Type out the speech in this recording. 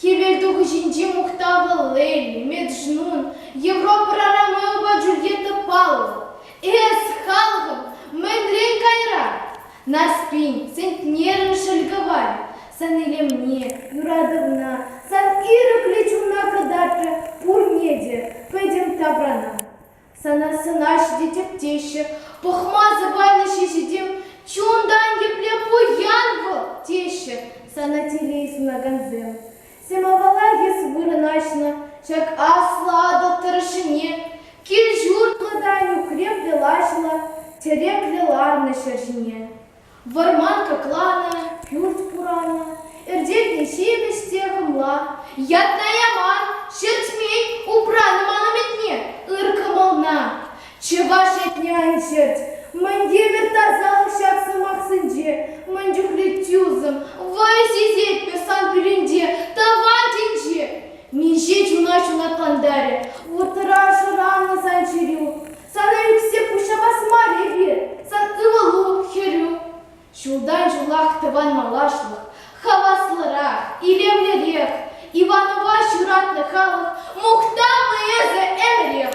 Хӗвелтухӑҫӗнчи мухтавлӑ Лель, Меджнун, Европӑра Ромеопа Джульетта паллӑ. Эс, халӑхӑм, мӗнрен кайра? Наспин, сентнерӑн шӗлкӗвай. Сан илемне, юратӑвна, сан ирӗклӗ чунна кӑтартрӗ пурне те пӗтӗм тапрана. Сана сӑнаҫҫӗ тетӗп теҫҫӗ, пӑхма сӑпайлӑ ҫеҫетем чунтан епле пуян вӑл, теҫҫӗ сана телей сунакансем. Самовара эс вырӑнаҫнӑ ҫак аслӑ Атӑл тӑрӑшӗне, кил-ҫуртлӑ та нӳкреплӗ лаҫлӑ, тӗреклӗ ларнӑ ҫӗр ҫине. Вӑрман кӑкланӑ, пӳрт куранӑ, Эртетне ҫепӗҫ те хӑмла. Ятна яман, ҫӗрчмен, Упранӑ ман ӗметне ыр кӑмӑлна. Чӑваш этне ан чӗрт, Мӗн евӗр тасалӑх ҫак сӑмахсенче, Мӗн чухлӗ тӳсӗм, вӑй сисетпӗр сан пӳренче, Тӑван тӗнче! Миҫе чуна ҫунатлантарӗ Вӑтӑра шӑранӑ сан чӗрӳ! Сана ӳксе пуҫҫапас мар эпир, сак ывӑлу, хӗрӳ. Ҫултан ҫулах тӑван малашлӑх, хаваслӑрах, илемлӗрех. Иванова ҫуратнӑ халӑх, мухтавлӑ эсӗ ӗмӗрех!